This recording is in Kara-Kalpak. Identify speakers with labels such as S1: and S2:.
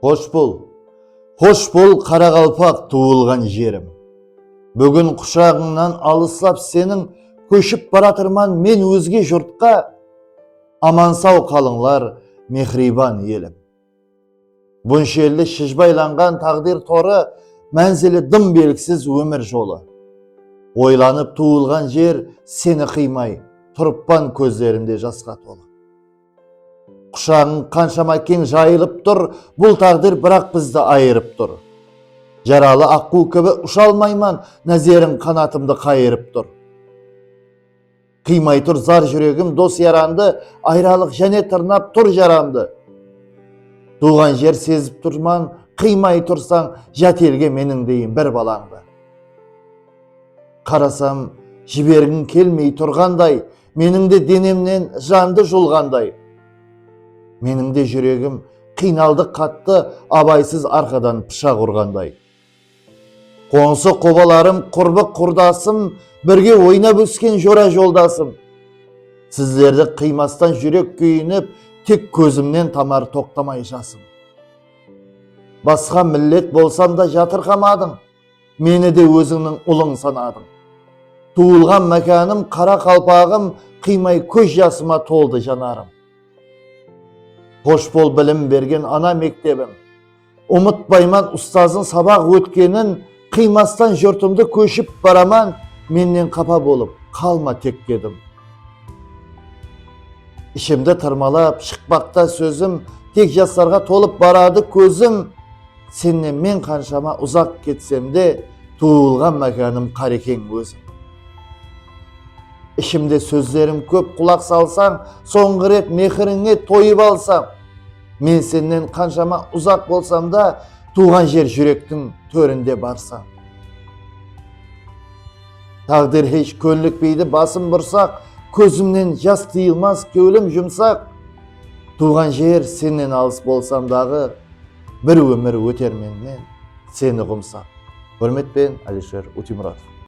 S1: Xosh bol, xosh bol Qaraqalpaq tuwılǵan jerim. Búgin qushaǵıńnan alıslap seniń kóship baratırman men ózge jurtqa, Aman-saw qalıńlar mehriban elim. Bunshelli shıjbaylanǵan taǵdir torı, Mánzili dım belgisiz ómir jolı. Oylanıp tuwılǵan jer seni qıymay, Turıppan kózlerimde jasqa tolı. Qushaǵıń qanshama keń jayılıp tur, Bul táǵdir biraq bizdi ayırıp tur. Jaralı aqquw kibi usha almayman, Názeriń qanatımdı qayırıp tur. Qıymay tur zar júregim dos-yarandı, Ayralıq jáne tırnap tur jaramdı. Tuwǵan jer sezip turman, qıymay tursań, Jat elge meniń deyin bir balańdı. Qarasam, jibergiń kelmey turǵanday, Meniń de denemnen jandı julǵanday. Meniń de júregim qıynaldı qattı abaysız arqadan pıshaq urǵanday. Qońsı qobalarım qurbı qurdasım birge oynap ósken jora joldasım sizlerdi qıymastan júrek kúyinip tek kózimnen tamar toqtamay jasım. Basqa millet bolsam da jatırqamadıń. Meni de ózińniń ulıń sanadıń. Tuwılǵan mákanım, qara qalpaǵım qıymay kóz jasıma toldı janarım. Xosh bol bilim bergen ana mektebim. Umıtpayman ustazın sabaq ótkenin, qıymastan jurtımdı kóship baraman, mennen qapa bolıp qalma tek dedim. Ishimdi tırmalap shıqpaqta sózim, tek jaslarǵa tolıp baradı kózim. Sennen men qanshama uzaq ketsem de, tuwılǵan mákanım Qarekeń óziń. Ishimde sózlerim kóp qulaq salsań, sońǵı ret mehirińe toyıp alsam. Men sennen qanshama uzaq bolsam da, tuwǵan jer júrektiń tórinde barsań. Táǵdir hesh kónlikpeydi basım bursaq, kózimnen jas tıyılmas kewlim jumsaq. Tuwǵan jer sennen alıs bolsam daǵı. Bir ómir óter menmen seni ǵumsap. Húrmetpen Alisher Utimuratov.